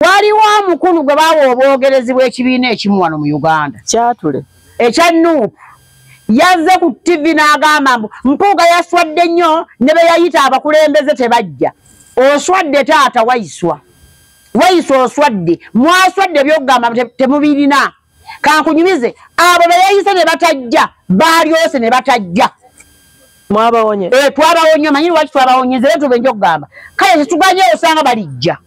waliwo omukulu gwe bawa obwogerezi bw'ekibiina ekimu wano mu uganda kyatule ekya nup yazze ku tivi n'agamba mbu mpuuga yaswadde nnyo ne be yayita abakulembeze tebajja oswadde taata waiswa waiswa oswadde mwaswadde byokugamba temubirina kankunyumize abo beyayise ne batajja baalyose ne batajja mwabawonye eh, twabawonye manyi lwaki twabawonyeze era tubenja okugamba kale tetuganye osanga balijja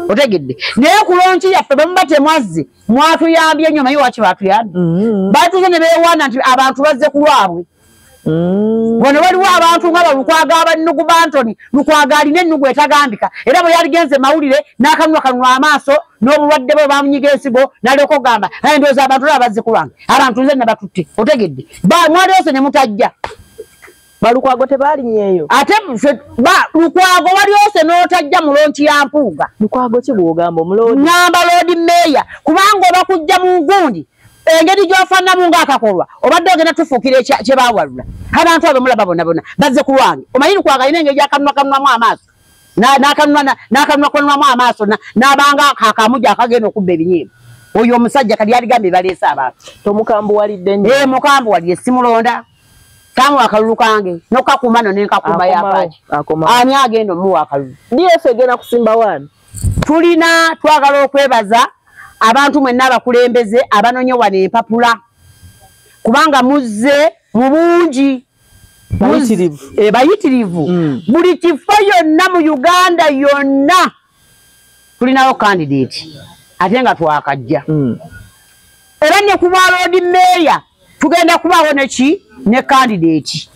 otegedde naye kulonki yaffe bamuba temwazze mwatuyambye nnyo manyi lwaki batuyambye mm-hmm. batuze ne bewaana nti abantu bazze ku lwabwe Mm. wano waliwo abantu nga balukwaga abannugu bantoni lukwaga alina ennugu etagambika era bwe yaligenze mawulire n'akanwa kanwa amaaso n'obulwadde bwe bamunyiga ensigo nalyoka okugamba aye ndowooza abantu olaba bazze ku lwange abantu nze nabatutte otegedde mwaliyose ne mutajja balukwago tebalinyeeyo ate lukwago walyose n'otajja mu lonki ya mpuuga lukwago kigugamba omuloodi ngamba loodi meeya kubanga oba kujja mu ngundi engeri gyofannamu ngaakakolwa obadde ogenda tufuukira kyebawalula abantu abo mulaba bonabona bazze ku lwange omanyi nkwagalina engeri gyakanunwa kanunwamu amaaso n'akanunwa kanunwamu amaaso n'abanga kakamu gyakagenda okubba ebinyiimu oyo omusajja kati yaligambye baleese abantu tomukambuwalidde nyo ee eh, mukambuwalire simulonda kamu akalulu kange nokakuuma no nenkakuuma yapaaki ani agenda omuwa akalulu df egenda kusimba waani tulina twagala okwebaza abantu mwenna abakulembeze abanonye wano empapula kubanga muzze mu bungi bayitirivu eh, mm. buli kifo yonna mu uganda yonna tulinawo kandidate ate nga twakajja mm. era ne ku bwaloodi meeya tugenda kubaawo neki ne kandidate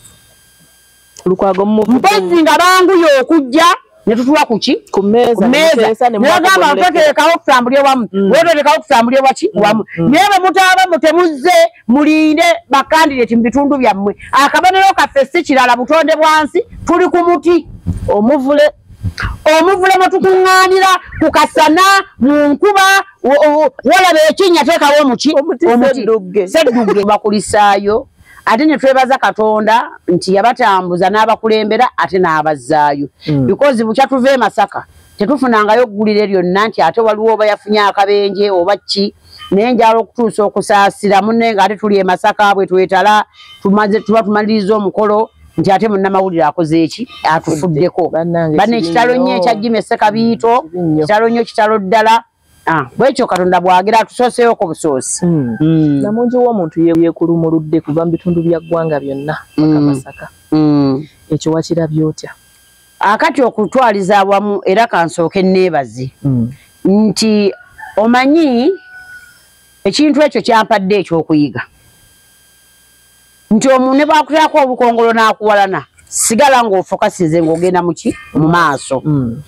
lukwago mpozi nga banguye okujja netutuwa kuki kumezanagamba toterekawo okusambulya wamu mm. weterekawo okusambulya waki mm. wamu mm. naye bwemutaaba mutemuzze mulinde bakandidati mubitundu byammwe akabonero kaffe si kirala butonde bwansi tuli ku muti omuvule omuvule mwetukuŋŋaanira ku kasana mu nkuba wolaba ekinnya teekawo omuki omuti seddugge bakulisaayo ate ne twebaza katonda nti yabatambuza n'abakulembera ate n'abazzaayo mm. because bukya tuva e masaka tetufunangayo ggulire lyonna nti ate waliwo oba yafunye akabenje oba ki naye njala okutuusa okusaasira munne nga ate tuli e masaka bwe twetala tuba tumaliriza omukolo nti ate munnamawulire akoze eki atufuddeko banna ekitalo nnyo ekyajjima essekabiito kitalo nnyo kitalo ddala mm. Ah, bwekyo katonda bwagera atusoseewo ku busoosi hmm. hmm. namungi womuntu yekulumuludde kuva mu bitundu bya ggwanga byonna akamasaka hmm. ekyo wakirabye otya akati okutwaliza awamu era kansooke neebazi nti omanyi ekintu ekyo kyampadde ekyokuyiga nti omuntu ne bwakuteerako obukongolo n'akuwalana sigala ng'ofokasize ng'ogenda muki mu maaso mm.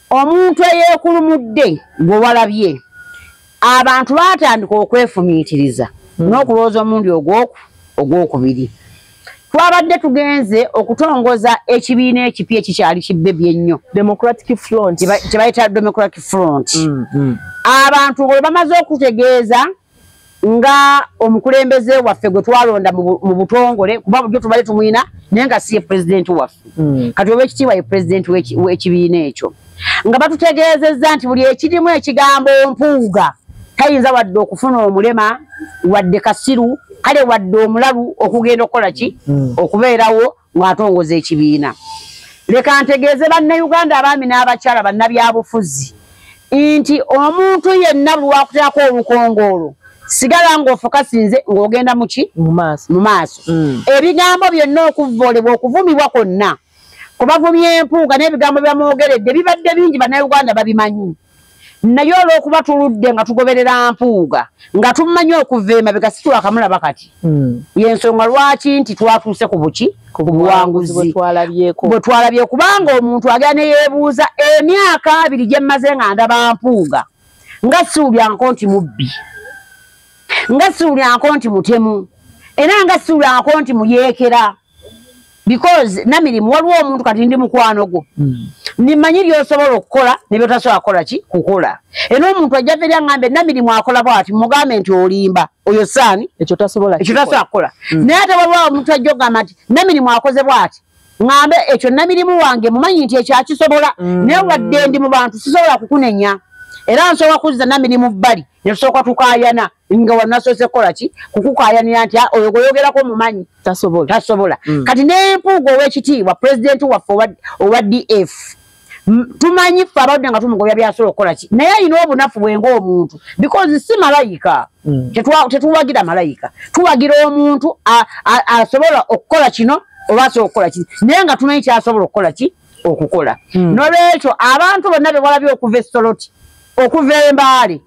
omuntu eyeekulumudde gwewalabye abantu baatandika okwefumiitiriza mm. n'okulowooza omundi ogwoku ogwokubiri twabadde tugenze okutongoza ekibiina ekipya ekikyali kibbebi ennyo kyebayita democratic front mm, abantu bwe bamaze okutegeeza nga omukulembeze waffe gwe twalonda mu butongole kuba bujo tubale tumwina naye nga si ye pulezidenti waffe hmm. kati oba ekitiibwa ye pulezidenti w'ekibiina ekyo nga batutegeezezza nti buli ekirimu ekigambo mpuuga tayinza wadde okufuna omulema wadde kasiru kale wadde omulalu okugenda okukola ki hmm. okubeerawo ng'atongoza ekibiina leka ntegeeze bannayuganda abaami n'abakyala bannabyabufuzi nti omuntu yenna lwakuteako olukongoolo sigala ng'ofokasinze ng'ogenda muki mu maaso mm. ebigambo byonna okuvvoolebwa okuvumibwa kwonna kubavumya empuuga n'ebigambo byamwogeredde bibadde bingi bannayuganda babimanyi naye olwokuba tuludde nga tugoberera mpuuga nga tumanyi okuva emabega situwakamulaba kati hmm. yensonga lwaki nti twatuuse ku buki ku buwanguzi bwe twalabye kubanga omuntu agera neyebuuza emyaka abiri gyemmaze nga ndaba mpuuga nga siwulyanko nti mubbi nga siwulyanko nti mutemu era nga siwulyanko nti muyeekera because namirimu waliwo omuntu kati ndi mukwano gwo hmm. nimanyi byosobola okukola nebyotasobola kukola ki kukola era omuntu ajja teri aŋambe namirimu akola bwati mugambe nti olimba oyo saani ekyo tasobola kukola hmm. naye ate waliwo omuntu ajja okugamba nti namirimu akoze bwati ŋambe ekyo namirimu wange mumanyi nti ekyo akisobola hmm. naye wadde ndi mu bantu sisobola kukunenya era nsobola kuzza namirimu bbali netusooka tukayana nga wanasoose kukola ki kukukayanira nti ah, oyo gweyogerako omumanyi tasobola tasobola mm. kati nempuuga owekitiibwa pulezidenti waffe owa df tumanyi ffe abadde nga tumugobya byasobola okukola ki naye alina obunafu bwe ngaomuntu because si malayika mm. tetuwagira malayika tuwagira omuntu asobola okukola kino oba asobola okukola ki naye nga tumanyi kyasobola okukola ki okukola mm. nolwekyo abantu bonna bewalabye okuva esoloti okuva embaale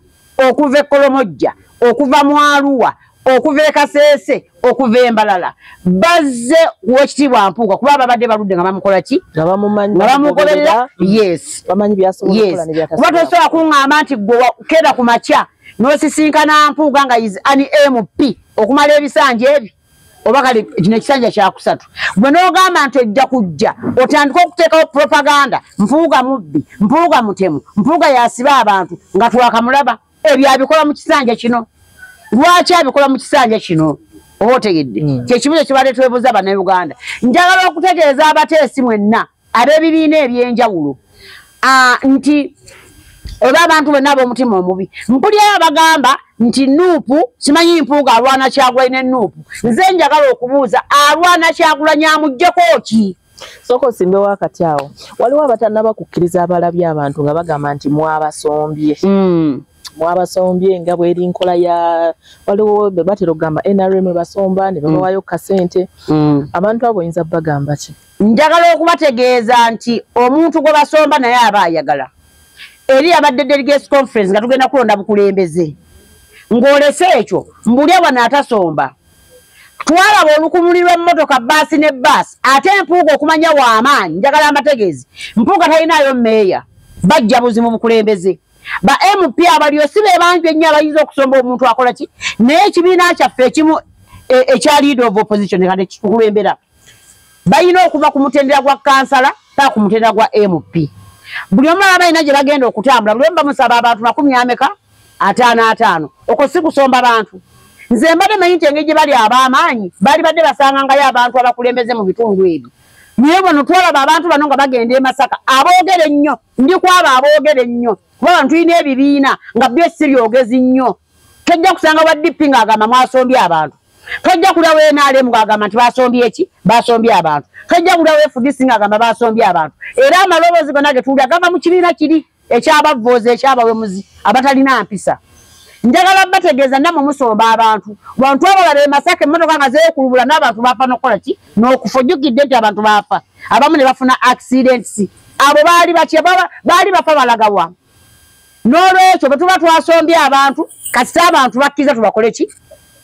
okuva e Kolomojja, okuva mu Arua, okuva e Kasese, okuva e Mbalala. Bazze kuwekitiibwa Mpuuga kuba babadde baludde nga bamukola ki? Nga bamumanyi. Nga bamugoberera. Yes. Bamanyi byasobola okukola ne byakasala. Kuba tosobola kungamba nti gwe keda ku makya n'osisinkana Mpuuga nga is an MP okumala ebisanja ebyo. oba kale kino ekisanja kyakusatu gwe nogamba nti ojja kujja otandika okuteekawo propaganda mpuuga mubbi mpuuga mutemu mpuuga yasiba abantu nga twakamulaba ebyo abikola mu kisanja kino lwaki abikola mu kisanja kino oba otegedde hmm. kyekibuzo kyebadde twebuza banauganda njagala okutegeeza abateesi mwenna ab'ebibiina eby'enjawulo nti oba abantu bonna ab'omutima omubi mpulyayo abagamba nti nuupu simanyi mpuuga alwana kyagulanyi ne nuupu nze njagala okubuuza alwana kyagulanyi amugjeko ki sooka osimbewo akati awo waliwo abatanaba kukkiriza abalabye abantu nga bagamba nti mwabasombye hmm. mwabasombye nga bweri nkola ya waliwo bebatera okugamba nrm ebasomba ne babawayo hmm. kasente hmm. abantu abo oyinza bagamba ki njagala okubategeeza nti omuntu gwe basomba naye aba ayagala eri abadde delegates conference nga tugenda kulonda bukulembeze ng'olese ekyo mbulya wano atasomba twalaba olukumuli lw'emmotoka baasi ne baasi ate empuuga okumanya w'amaanyi njagala amategeezi mpuuga talinaayo meeya bajja buzi mu bukulembeze ba mp abalio si be bangi ennyo abayinza okusomba omuntu akola ki naye ekibiina kyaffe ekimu e, ekya leader of opposition kati kikulembera balina okuva ku mutendera gwa kansala paa ku mutendera gwa mp buli omu aba balina gye bagenda okutambula buli omu bamusaba abantu makumi ameka ataano ataano okwo si kusomba bantu nze mbadde manyi nti engeri gye bali ab'amaanyi baali badde basangangayo abantu abakulembeze mu bitundu ebyo naye bano twalaba abantu bano nga bagenda e masaka aboogere nnyo ndi kwabo aboogere nnyo kuba bano tulina ebibiina nga byo si byogezi nnyo tojja kusanga wa dp ng'agamba mwasombye abantu tojja kulya we nrm ng'agamba nti basombye eki basombye abantu tojja kulya we fdc ng'agamba basombye abantu era amaloboozi gona ge tuwulira gava mu kibiina kiri ekyabavvoozi ekyabawemuzi abatalina mpisa njagala bategeeza namwe musomba abantu bantu abala be masaka emmotoka nga zeekulubula n'abantu baafa n'okukola ki n'okufa ojjukidde nti abantu baafa abamu ne bafuna accidents abo baali bakyebaba baali bafa balagawamu n'olwekyo bwe tuba twasombye abantu kasita abantu bakkiriza tubakole ki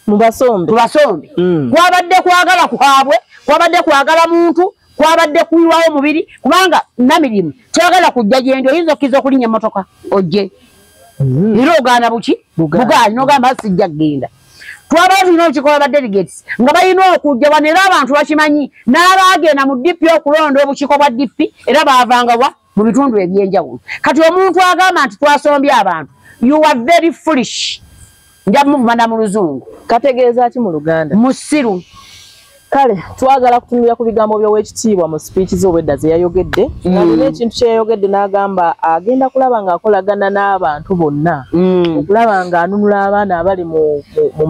mubasombe tubasombe mm. kwabadde kwagala kwabwe kwabadde kwagala muntu kwabadde kuyiwawo mubiri kubanga namirimu kyagala kujja gyendi oyinza okkiriza okulinnya emmotoka ojje mm. era ogaana buki bugaanyi nogamba sijja kugenda twaba tulina olukiiko lwa badelegates nga balina okujja wano era abantu bakimanyi n'abaagenda mu dp okulonda obukiiko bwa dp era baavanga wa mu bitundu ebyenjawulo kati omuntu agamba nti twasombye abantu you are very foolish nja muvumana mu luzungu kategeeza ki mu luganda musiru kale twagala kutunulira ku bigambo by'owekitiibwa mu sipiiki z'obwedda ze yayogedde mm. nga nina ekintu kye yayogedde n'agamba agenda kulaba ng'akolagana n'abantu bonna mm. okulaba ng'anunula abaana abali mu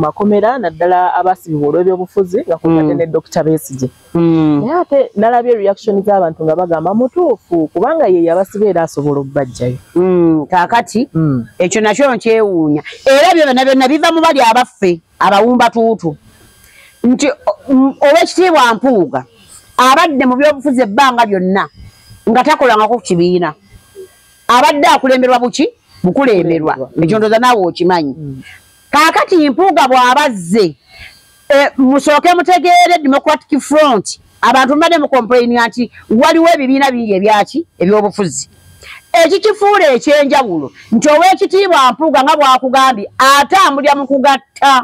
makomera naddala abasibibwa olw'ebyobufuzi nga kuate mm. ne dokita besigye Hmm. naye ate nalabye reaction z'abantu nga bagamba mutuufu kubanga ye yabasiba era asobola okubajjayo hmm, kakati hmm. ekyo nakyo nkyewuunya era byona byonna biva mu bali abaffe abawumba tuutu nti owekitiibwa mpuuga abadde mu byobufuzi ebbanga byonna nga takolangako ku kibiina abadde akulemberwa buki bukulemberwa ekyo ndoza naawe okimanyi kaakati mpuuga bw'aba azze e, musooke mutegeere democratic front abantu mbadde mukompulayinira nti waliwo ebibiina bingi ebyaki ebyobufuzi ekikifuula ekyenjawulo nti ow'ekitiibwa mpuuga nga bwakugambye ate amulya mu kugatta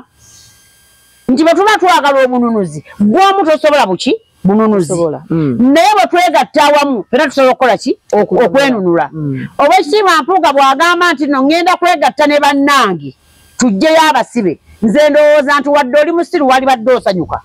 nti bwe tuba twagala obununuzi gw'omu tosobola buki bununuzi hmm. naye bwe twegatta awamu fena tusobola okukola ki okwenunula hmm. obwekitiibwa mpuuga bw'agamba nti no ŋŋenda kwegatta ne bannange tujjeyo abasibe nze ndowooza nti wadde oli musiru wali badde osanyuka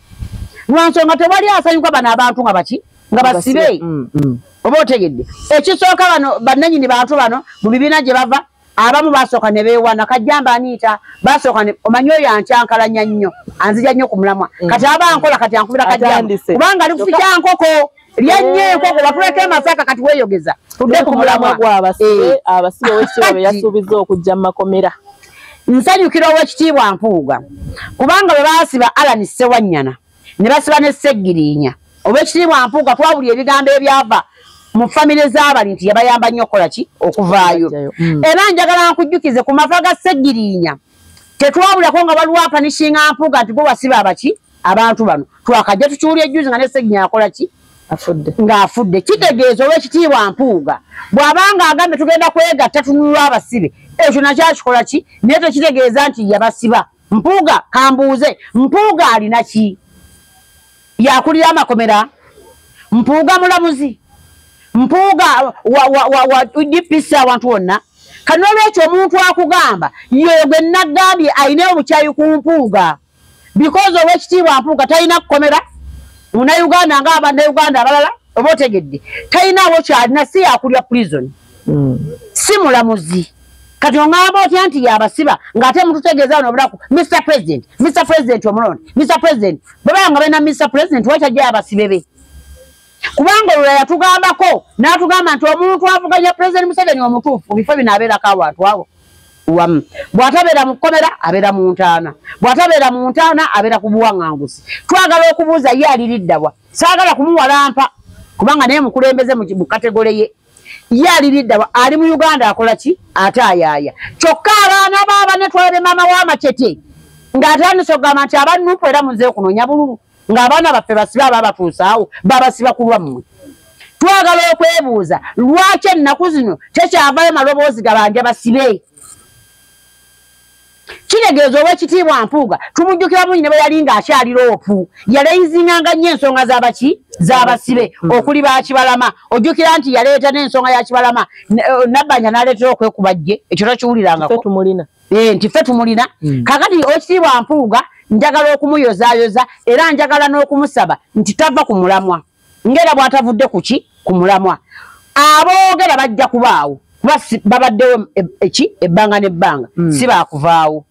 lwansonga tewali asanyuka bano abantu nga baki nga basibe hmm, oba otegedde ekisooka bano bannanyini bantu bano mu bibiina gye bava abamu basooka ne beewana kajjamba aniita basooka omanyi oyo ankyankalanya nnyo anzija nnyo ku mulamwa mm. kati aba nkola kati ankubira kajjamba kubanga ali kufikya nkoko lyennyo eh. enkoko batuleka emasaka kati weeyogeza tudde ku mulamwa gwabasibe eh. abasibe owekitiibwa be yasuubizza okujja mu makomera nsanyukira owekitiibwa mpuuga kubanga bwe baasiba alani ssewannyana ne basiba ne Ssegirinya. Ow'ekitiibwa Mpuuga twawulira ebigambo ebyava mu famire z'abali nti yabayamba nnyo okukola ki okuvaayo. Hmm. Era njagala nkujjukize ku mava ga Ssegirinya tetwawulako nga waliwo apanishinga Mpuuga nti gwe wasiba abaki abantu bano twakajja tukiwulira ejjuzi nga ne Ssegirinya akola ki ng'afudde kitegeeza olw'ekitiibwa mpuuga bw'abanga agambe tugenda kwegatta tunulwa abasibe ekyo nakyo akikola ki naye tekitegeeza nti yabasiba mpuuga kambuuze mpuuga alina ki yakulira amakomera mpuuga mulamuzi mpuuga dpc awantu wonna kanolwekyo omuntu akugamba yogwe nagambye alina obukyayi ku mpuuga bikozi owekitiibwa mpuuga talina kukomera munauganda nga abanauganda abalala oba otegedde talinawo kyalina si yakulya prison hmm. si mulamuzi kati ongamba otya nti yabasiba ngaate mututegeeza no obulaku mr president mr president omulonde mr president bwebaa nga balina mr president wakyajja yabasibe be kubanga olula yatugambako n'atugamba nti omuntu avuganya president museveni omutuufu mu bifo bino abeerako abantu abo wamu bw'atabeera mu kkomera abeera mu ntaana bw'atabeera mu ntaana abeera ku buwaŋŋanguzi twagala okubuuza ye aliriddabwa saagala kumuwalampa kubanga naye mukulembeze mu kategole ye ye aliriddawa ali mu uganda akola ki ate ayaaya kyokka abaana baaba netwalabe maama w'amacete ng'atandise okugamba nti abannupu era muze kunoonya bululu ng'abaana baffe basibe aba batuusaawo babasiba ku lwammwe twagala okwebuuza lwaki ennaku zino tekyavayo maloboozi gabanja basibe kitegeeza owekitiibwa mpuuga tumujjukira bungi ne bwe yali ng'akyali loopu yaleyizinganga nnyo ensonga z'abaki z'abasibe hmm. okuli bakibalama ojjukira nti yaleeta n'ensonga ya kibalama eh, nabbanja n'aleetera okwekuba jje ekyo tokiwulirangako eh, nti ffe tumulina hmm. kakati owekitiibwa mpuuga njagala okumuyozayoza era njagala n'okumusaba nti tava ku mulamwa ngera bwatavudde kuki ku mulamwa aboogera bajja kubaawo kuba babaddewo e, eki ebbanga n'ebbanga hmm. si baakuvaawo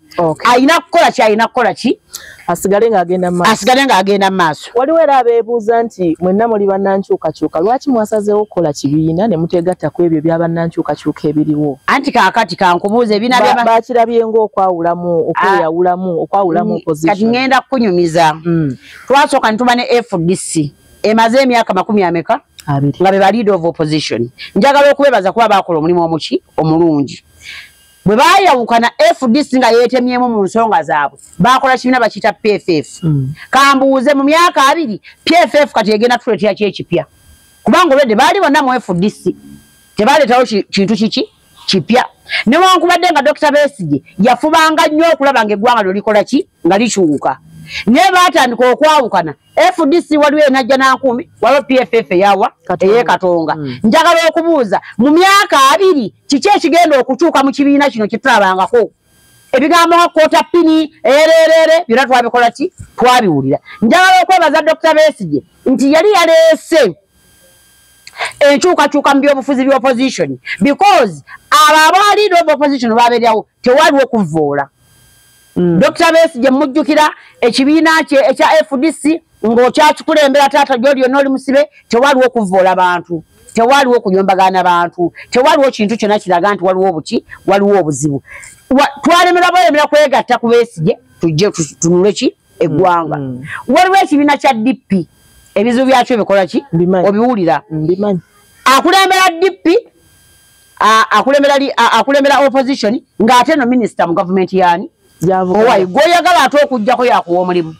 alina kukola ki alina kukola ki asigale ng'agenda maaso asigale ng'agenda maaso waliwo era abeebuuza nti mwenna muli bannankyukakyuka lwaki mwasazeewo okukola kibiina ne muteegatta ku ebyo bya bannankyukakyuka ebiriwo anti kaakati kankubuuza ebiina bakirabye ng'okwawulamu okweyawulamu okwawulamu mm, kati ŋŋenda kukunyumiza mm. twasooka nituba ne fdc emaze emyaka makumi ameka nga bebaleader of opposition njagala okubebaza kuba bakola omulimu omuki omulungi bwe bayawukana fdc nga yetemyemu mu nsonga zaabwe bakola kibiina bakiyita pff mm. kambuuze mu myaka abiri pff kati egenda tuletera ki ekipya kubanga olwedde baali bonna mu fdc tebaleetawo kintu kiki kipya newankubadde nga dokita besigye yafubanga nnyo okulaba nga eggwanga lyo likola ki nga likyuuka naye baatandika okwawukana fdc waliwo enajja nankuumi waliwo pff eyawa eyekatonga hmm. njagala okubuuza mu myaka abiri kiki ekigenda okukyuka mu kibiina kino kitulabangako ebigambo nga kota pini ererere byona twabikola ki twabiwulira njagala okwebaza dokita besigye nti yali yaleese enkyukakyuka mu byobufuzi bya opposition because abo abaali noba opposition babeerawo tewaliwo kuvvoola mm. dr bes gye mujjukira ekibiina kye ekya fdc ng'okyakikulembera taata gyoli yonna oli musibe tewaliwo kuvvoola bantu tewaliwo kuyombagana bantu tewaliwo kintu kyonna kiraga nti waliwo obuki waliwo obuzibu twalemerwa bwelemera kwegatta ku besigye tujje tunule ki eggwanga mm. waliwo ekibiina kya dp ebizibu byakyo bikola ki obiwulira akulembera dp akulembera opposition ng'ate no minisita mu gavumenti yaani owayi gwoyagala ate okugjako yakuwa omulimu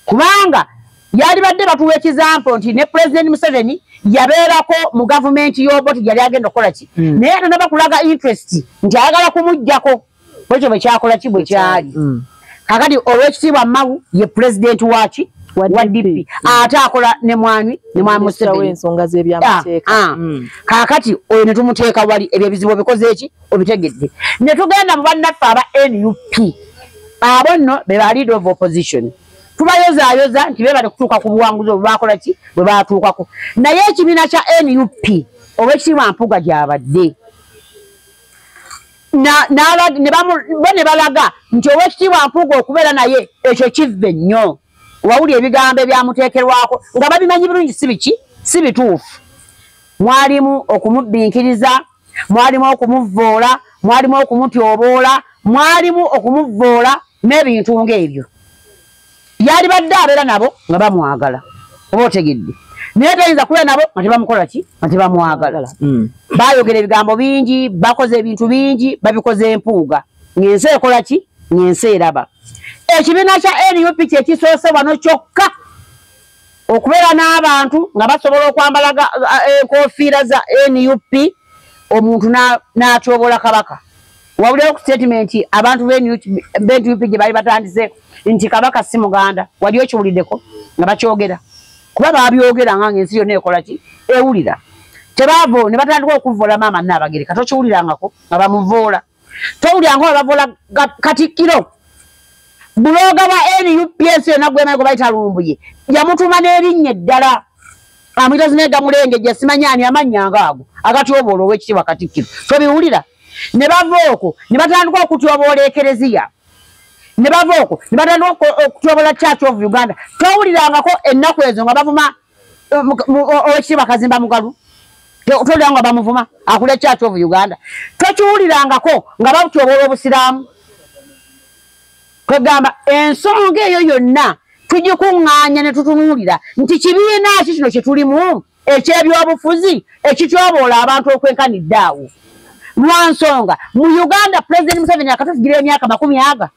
kubanga yalibadde batuwa ekizampo nti ne pulezidenti museveni yabeerako mu gavumenti y'oboti yali agenda okukola ki hmm. naye ate nabakulaga interest nti ayagala kumugjako bwekyo bwekyakola ki bwekyali mm. kakati olwekitiibwa mawu ye pulezidenti waki wa dp ate akola ne mwami ne mwami musebeensonga zebyamateeka ah, ah. mm. kakati oyo ne tumuteeka wali ebyo ebizibu obikoze eki obitegedde ne tugenda mu bannaffe aba nup abo nno be ba leader of opposition tubayozayoza nti bebale kutuuka ku buwanguzi obwe bakola ki bwe batuukako naye ekibiina kya nup obwekitiibwa mpuga gyabadde bo ne balaga nti owekitiibwa mpuuga okubeera naye ekyo kivve nnyo wawuli ebigambo ebyamuteekerwako nga babimanyi bulungi si biki si bituufu mwalimu okumubbinkiriza mwalimu okumuvvoola mwalimu okumutyoboola mwalimu okumuvvoola n'ebintu ng'ebyo yalibadde abeera nabo nga bamwagala oba otegedde naye tayinza kubeera nabo nga tebamukola ki nga tebamwagala hmm. bayogera ebigambo bingi bakoze ebintu bingi babikoze empuuga ng'ensi ekola ki ng'ensi eraba ekibiina kya nup kyekisoose wano kyokka okubeera n'abantu nga basobola okwambala enkofiira za nup omuntu n'atyobola kabaka wawulira ku statement abantu benup gye bali batandise nti kabaka si muganda wali okiwuliddeko nga bakyogera kuba babyogera nga ngaensi yonna ekolaki ewulira tebaavo ne batandika okuvoola maama naabagereka tokiwulirangako nga bamuvoola towuliranga oba bavoola katikkiro bulooga bwa nup ensi yonna gwemaiko bayita lumbuye yamutuma n'erinnya eddala amuyita zinega mulenge gye simanyi ani amannya nga ago agatyoboola ow'ekitiibwa katikkiro tobiwulira ne bava okwo ne batandika okutyoboola ekereziya ne bava okwo ne batandika okutyoboola church of uganda towulirangako ennaku ezo nga bavuma owekitiibwa kazimba mugalu tolira nga bamuvuma akula church of uganda tokiwulirangako nga batyoboola obusiraamu kwegamba ensonga eyo yonna tugikuŋŋaanya ne tutunuulira nti kibiina ki kino kye tulimu eky'ebyobufuzi ekityoboola abantu okwenkanidde awo lwa nsonga mu uganda pulezidenti museveni akatufugira emyaka makumi aga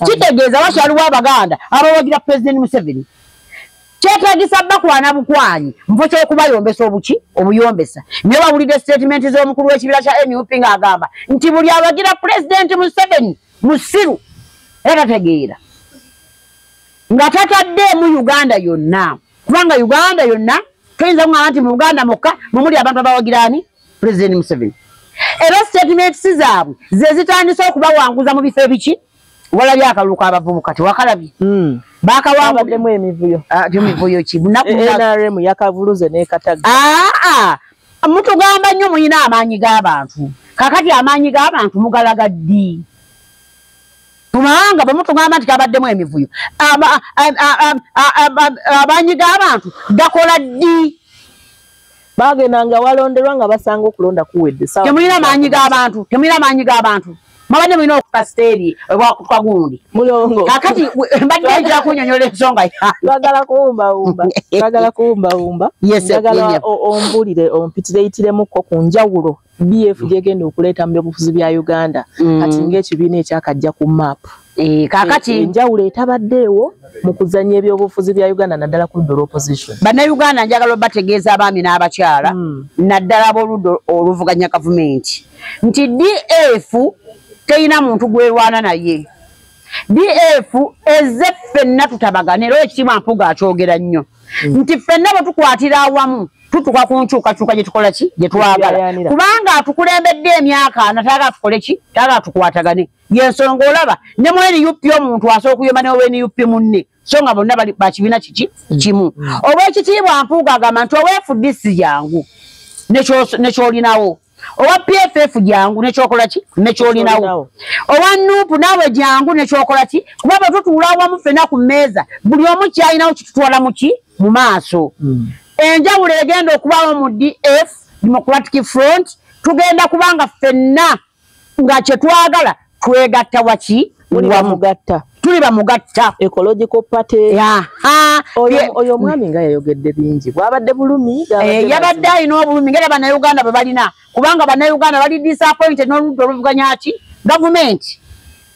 kitegeeza wakyaliwo abaganda abawagira pulezidenti museveni kyetagisa bakwana bukwanyi mpo kyokubayombesa obuki obuyombesa nyo bawulidde sitatimenti z'omukulu w'ekibiina kya nup ng'agamba nti buli awagira pulezidenti museveni musiru era tategeera nga tataddeemu uganda yonna kubanga uganda yonna toyinza kugamba nti mu uganda mukka mumuli abantu abawagiraani president museveni era statements zaabwe ze zitandise okubawanguza mu bifo ebiki walabye akalulu kabavubuka tewakalabye hmm. bakawanguddemu emivuyo ah, emivuyo ki nrm yakavuluze nekataga ah, ah. mutugamba nnyo mulina amaanyi g'abantu kakati amaanyi g'abantu mugalaga ddi mumawanga bwe mutugamba nti kabaddemu emivuyo amaanyi g'abantu gakola ddi bagendanga walonderwa nga basanga okulonda kuwedde temulina maanyi g'abantu temulina maanyi g'abantu mabadde mulina okukasita eri ebwakutwa gundi mulongo kakati mbadde njira kunyonyola ensonga bagala kuwumbawumba bagala kuwumbawumba agala ombulire ompitireitiremuko ku njawulo bf gyegenda okuleeta mu byobufuzi bya uganda mm. kati ngaekibiina ekyakajja ku maapu Eh, kakati eh, enjawulo etabaddeewo mu kuzannya ebyobufuzi bya uganda naddala ku ludda olwoposition bannayuganda njagala obategeeza abaami n'abakyala hmm. naddala ab'oludda oluvuganya gavumenti nti df terina muntu gwerwana naye df eze ffenna tutabagana era ekitiibwa mpuga akyogera nnyo hmm. nti ffenna bwe tukwatira awamu tutuka ku nkyukakyuka gye tukola ki gye twagala kubanga atukulembedde emyaka ana taga tukole ki taga tukwatagane yensonga olaba ne mu nup omuntu asobola okuyomba newe nup munne so nga bonna bali bakibiina kiki kimu owekitiibwa mpuuga agamba nti owefudisi jangu nekyolinawo owa pff jangu nekyokola ki nekyolinawo owa nup naawe jangu nekyokola ki kuba bwe tutuula awamu fena ku mmeeza buli omu kyalinawo kitutwala muki mu maaso hmm. enjawulo egenda okubaawo mu df democratic front tugenda kubanga fenna nga kyetwagala twegatta waki wamugatta tuli bamugatta ecological party oyo omwami nga yayogedde bingi bwabadde bulumi eh, yabadde alina obulumi ngaera banauganda bwe balina kubanga banauganda bali disappointed n'oludda oluvuganya ki gavumenti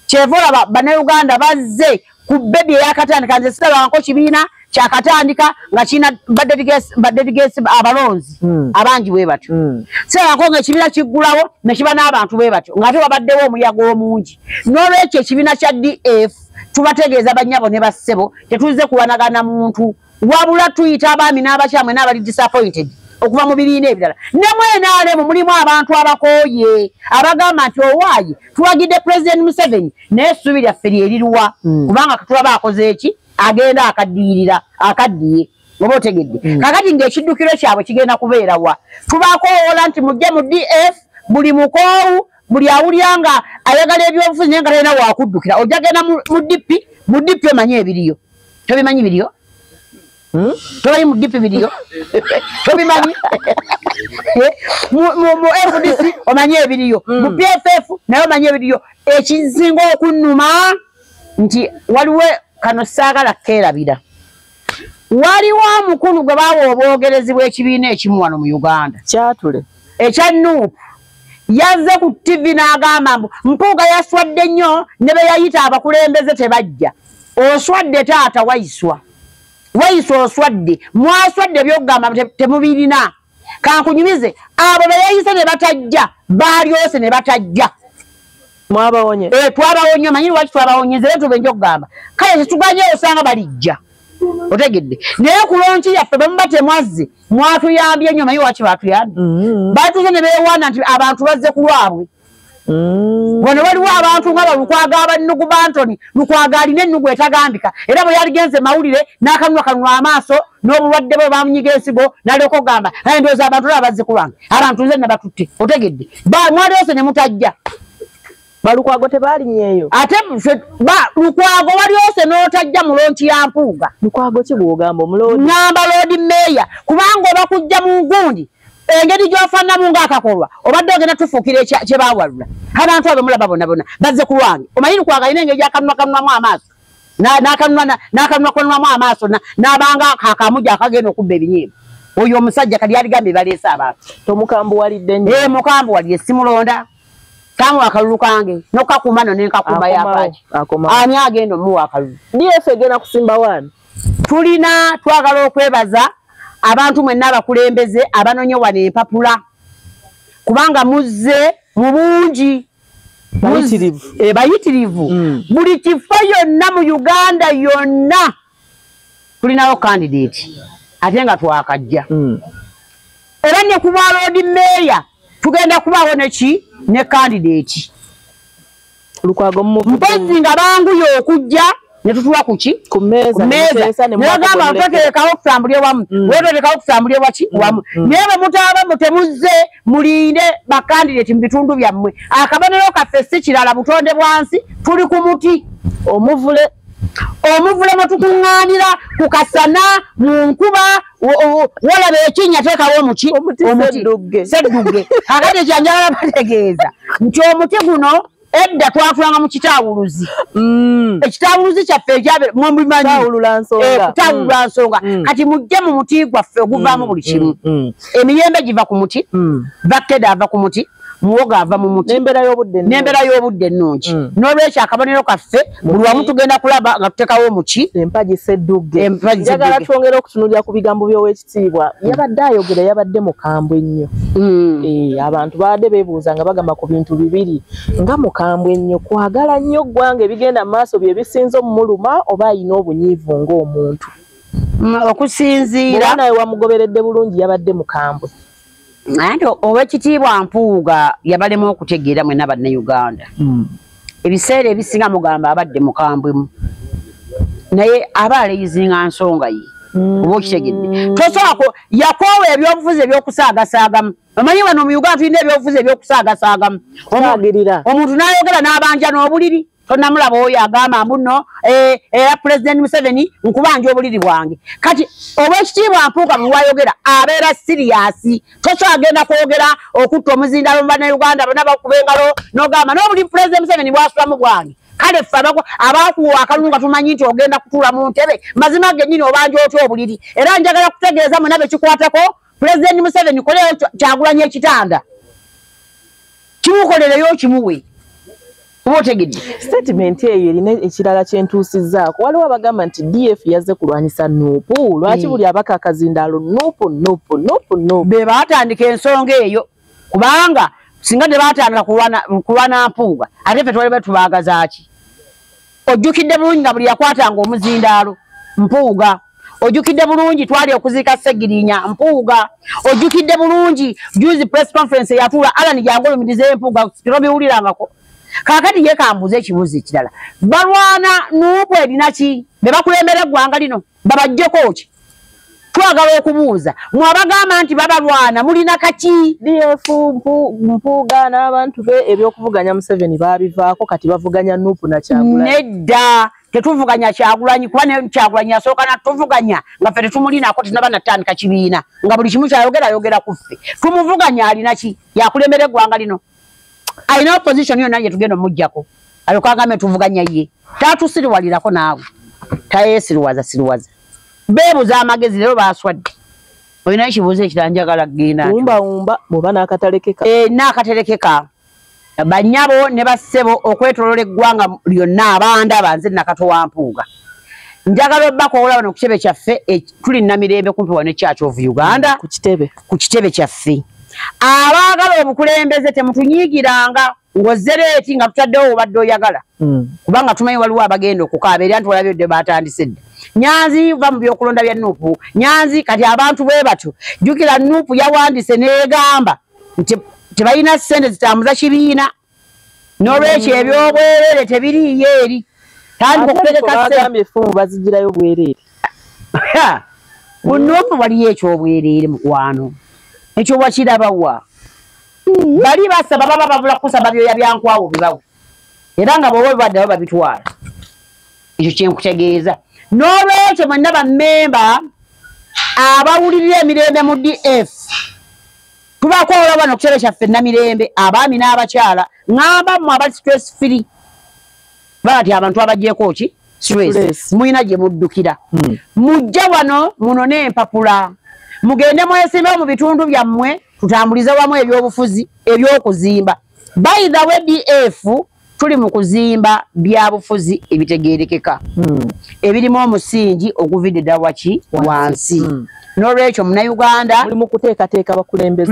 kyeva olaba banauganda bazze ku bebi eyakatandika nze sirabanko kibiina kyakatandika nga kirina badedgesi abalonzi hmm. abangi bwe batyo hmm. sirabanko nga ekibiina kiggulawo nekiba n'abantu bwe batyo ngaate wabaddewo omuyaga omungi n'olwekyo ekibiina kya df tubategeeza banyabo ne bassebo tetuzze kuwanagana muntu wabula tuyita abaami n'abakyamwe n'abali disappointed okuva mu bibiina ebirala ne mwenaalemu mulimu abantu abakooye abagamba nti owaaye tuwagidde pulezidenti museveni naye essuubi lyaffe lyeriruwa hmm. kubanga katulaba akoze eki agenda akaddiyirira akaddiye oba otegedde hmm. kakati ng'ekiddukiro kyabwe kigenda kubeerawa tubakoowoola nti mujje mu df buli mukoowu buli awulira nga ayagala ebyobufuzi naye nga talina wakuddukira ojagenda mu dp mu dp omanyi ebiriyo tobimanyi biriyo hmm? toli mu dipi biriyo tobimanyi eh, mu fdc omanyi ebiriyo hmm. mu pff naye omanyi ebiriyo ekizinga okunuma nti waliwo kano saagala keerabira waliwo omukulu gwe baawa obwogerezi bw'ekibiina ekimu wano mu uganda kyatule ekya nuupu yazze ku ttivi n'agamba mbu mpuuga yaswadde nnyo ne be yayita abakulembeze tebajja oswadde taata waiswa waiswa oswadde mwaswadde ebyokugamba temubirina kankunyumize abo beyeyise ne batajja balyose ne batajja mwabawonye eh, twabawonye manyi lwaki twabawonyeze era tubenja okugamba kale tetuganye osanga balijja otegedde naye kulonki yaffe bwemuba temwazze mwatuyambye nyo manyi lwaki batuyambye mm-hmm. batuze ne bewaana nti abantu bazze ku lwabwe Mm. wano waliwo abantu nga balukwaga abannugu bantoni lukwaga alina ennugu etagambika era bwe yaligenze mawulire n'akanwa kanwa amaaso n'obulwadde bwe bamunyiga ensigo nalyoka okugamba naye ndowooza abantu olaba bazze ku lwange abantu nze nabatutte otegedde mwali yose ne mutajja balukwago tebalinyeeyo ate lukwago wali yose n'otajja mu lonki ya mpuuga lukwago kigwogamba omuloodi ngamba loodi meeya kubanga oba kujja mu ngundi engeri gyofannamu ngaakakolwa obadde ogenda tufuukira kyebawalula abantu abo mulaba bonabona bazze ku lwange omanyi nkwagalina engeri gyakanunwa kanunwamu amaaso n'akanunwa kanunwamu amaaso n'abanga kakamu gyakagenda okubba ebinyiimu oyo omusajja kati yaligambye baleese abantu tomukambuwalidde nyo ee eh, mukambuwalire simulonda kamu akalulu kange nokakuuma no nenkakuuma yapaaki ani agenda omuwa akalulu df egenda kusimba waani tulina twagala okwebaza abantu mwenna abakulembeze abanonye wano empapula kubanga muzze mu bungi bayitirivu eh, mm. buli kifo yonna mu uganda yonna tulinawo kandidate ate nga twakajja mm. era ne ku bwaloodi meeya tugenda kubaawo neki ne kandidate lukwago mpozi nga banguye okujja netutuwa kuki kumezanagamba ntoterekawo okusambulya wamu mm. weterekawo okusambulya waki mm. wamu mm. naye bwemutaaba mutemuzze mulinde bakandidati mubitundu byammwe akabonero kaffe si kirala butonde bwansi tuli ku muti omuvule omuvule mwetukuŋŋaanira ku kasana mu nkuba wolaba ekinya tekawo omuki omuti seddugge akati ekyanjagala bategeeza nti omuti guno edda twakulanga mu kitawuluzi mm. ekitawuluzi kyaffe ekyabmubimanyitawulula eh, nsonga mm. mm. kati mujje mu muti gwaffe oguvaamu buli kimu emiyembe giva ku muti bakkeda ava ku muti muwogo ava mu muti n'embeera y'obudde n'embeera y'obudde ennungi mm. n'olwekyo akabonero kaffe buli wamu tugenda kulaba nga tuteekawo omuki empagi seddugge njagala twongera okutunulira ku bigambo by'owekitiibwa mm. yabadde ayogera yabadde mukambwe nnyo mm. eh, abantu babadde beebuuza nga bagamba ku bintu bibiri nga mukambwe nnyo kwagala nnyo ggwanga ebigenda mu maaso bye bisinza omumuluma oba alina obunyiivu ng'omuntu okusinziira nawe wamugoberedde bulungi yabadde mukambwe anti owekitiibwa mpuuga yabalemu okutegeera mwena bannauganda hmm. ebiseera ebisinga mugamba abadde mukambwemu naye aba aleyizinga nsonga ye hmm. oba okitegedde tosobola yakoowa ebyobufuzi ebyokusaagasaagamu omanyi wano mu uganda tulina ebyobufuzi ebyokusaagasaagamu omuntu nayogera n'abanja n'obuliri tonamulaba oyo agamba mbuno eh, era eh, pulezidenti museveni nkubanja obuliri bwange kati obwekitiibwa mpuuka bwewayogera abeera siriyasi tokyagenda kwogera okutta omuzindalo mu banauganda bona bakuba engalo nogamba nobuli pulezidenti museveni bwasulamu bwange kale ffe abakuwa akalulu nga tumanyi nti ogenda kutuula mu ntebe mazima genyini obanja otya obuliri era njagala kutegeeza mwena bekikwatako pulezidenti museveni koleyo kyagulanya ekitanda kimukolereyo kimuwe oba otegedde statement eyo erina ekirala kyentuusizaako waliwo abagamba nti df yazze kulwanyisa nuupu lwaki hmm. buli abaka akazindaalo nuupu nuupu nuupu nuupu be baatandika ensonga eyo kubanga singa tebatandika kulwana mpuuga ate fe twali batubaagazaaki ojjukidde bulungi nga buli yakwatanga omuzindaalo mpuuga ojukidde bulungi twali okuziika segirinya mpuuga ojukidde bulungi juzi press conference yatuula alan jangolumiriza empuuga tobiwulirangako kakati ye kambuuza ekibuuzo ekirala balwana nuupu erina ki be bakulembera eggwanga lino babajjeko ki twagala okubuuza mwe abagamba nti babalwana mulina kaki df mpuuga n'abantu be ebyokuvuganya museveni baabivaako kati bavuganya nuupu nakyagula nedda tetuvuganya kyagulanyi kuba ne kyagulanyi yasooka natuvuganya nga ffe tetumulinaako tenaba natandika kibiina nga buli kimu kyayogera ayogera ku ffe tumuvuganya alina ki yakulembera eggwanga lino alina opposition yonna ye tugenda omuggyako alyoka agambe tuvuganya ye tatusiriwalirako naawe tayesiriwaza siriwaza beebuza amagezi leero baswadde olina ekibuuzo ekira njagala gendaumbaumba oba nakatalekeka eh, nakaterekeka banyabo ne bassebo okwetolola eggwanga lyonna abandaba nze nakato wa mpuuga njagala obakowola wano ku kitebe kyaffe e, tuli namirembe kumpi wano ekyaki of uganda ku kitebe kyaffe abaagala obukulembeze temutunyigiranga ngozereeti nga tutaddewo obadde oyagala hmm. kubanga tumanyi waliwo abagenda okukaaba era nti walabyodde batandise dda nyanzi va mu byokulonda bya nuupu nyanzi kati abantu bwe batyo jjukira nuupu yawandise negamba nti tebalina sente zitambuza kibiina nolwekyo mm. ebyobwerere tebiriiyo eri tandika okutegekaagambye efumu bazigirayo bwerere bunofu waliyo ekyobwerere mukwano ekyo wakirabawa mm. bali basaba baba babula kusaba byoya byankwawo bibawe era nga bwoba bibaddawo babitwala ekyo kyenkutegeeza n'olwekyo mwenna bammemba abawulirira emirembe mu df tubaako olaba no kukitebe kyaffe namirembe abaami n'abakyala ŋamba mu abali stress free bati abantu abagyeko ki stress mulina gye muddukira hmm. mujja wano muno n'empapula mugende mwesimbewo mu bitundu byammwe tutambulize wamu ebyobufuzi ebyokuzimba by the way df tuli mu kuzimba byabufuzi ebitegerekeka hmm. ebirimu omusingi oguvideda waki wansi hmm. nolwekyo munauganda tuli mukuteekateeka bakulembeze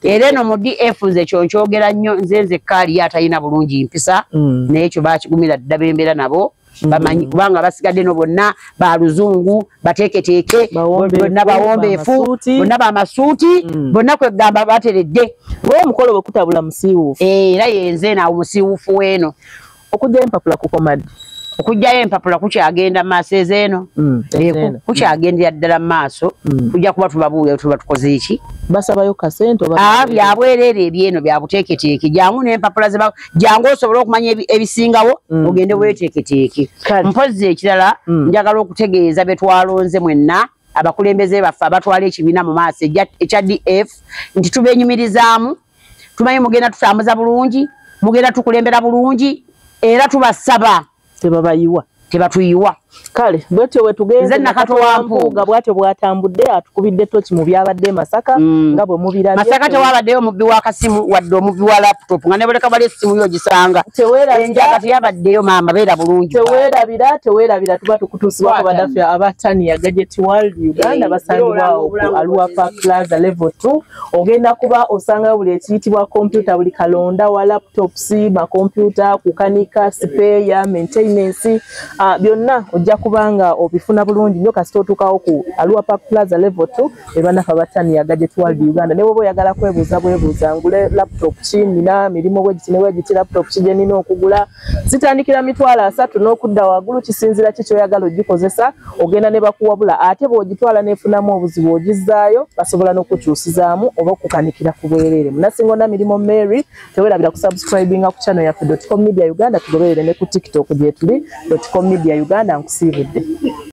era eno mu df nze ekyo nkyogera nnyo nze nze kaali atalina bulungi mpisa hmm. naye ekyo bakigumira dda bembeera nabo bamanyi kubanga basigadde no bonna ba luzungu bateeketeeke bonna bawombeefu bonna bamasuuti mm. bonna kwegamba bateredde omukolo wekutabula musiiwuufu eh, era yenze naawo musiiwuufu weeno okujjayo empapula kukomadde okujjayo empapula kukyagenda maaso ezeeno mm, eh, kukyagendera ddala mu maaso mm. kujja kuba tubabuulira tuba tukoze eki basabayo kasente ah, byabwereere ebyeno byabuteeketeeke jangu nempapula jangu osobola okumanya ebisingawo mm. ogende weteeketeeke mpozzi ekirala mm. njagala okutegeeza betwalonze mwenna abakulembeze baffe abatwala ekibiina mu maaso ekya df nti tubenyumirizaamu tumanyi mugenda tutambuza bulungi mugenda tukulembera bulungi era tubasaba tebabayiwa tebatuyiwa kale bwetyo wetugenze nakato wa mpuuga bwatyo bwatambudde atukubidde toki mu byabadde masaka mm. nga bwe mubira masaka tewabaddeyo omubbi wa kasimu wadde omubbi wa laptop nga nebuleka bali essimu yo gisanga enjaga teyabaddeyo maama beera bulungi tewerabira tewerabira tuba tukutuusibwako badaffe aba tania gadget world uganda eh, basangibwawo ku aluapa plaza level two ogenda kuba osangayo buli ekiyitibwa kompyuta buli kalonda wa laptops makompyuta kukanika sipeeya maintenance uh, byonna ojja kubanga obifuna bulungi nyo kasita otuukawo ku aluwa park plaza level t ebanafa bataniya gadget world uganda newoba oyagala kwebuuza bwebuuza ngule laptop ki nina mirimu bwegiti newegiti laptop ki gyenina okugula zitandikira mitwalo asatu n'okudda waggulu kisinzira ki kyoyagala ogikozesa ogenda ne bakuwabula ate bw'ogitwala n'efunamu obuzibu ogizzaayo basobola n'okukyusizaamu oba okukanikira ku bwereere munasinga ona mirimu mary tewerabira kusubscribinga ku channel yaffe dotcom media uganda tugoberere ne ku tiktok gyetuli dotcom media uganda nkusiibudde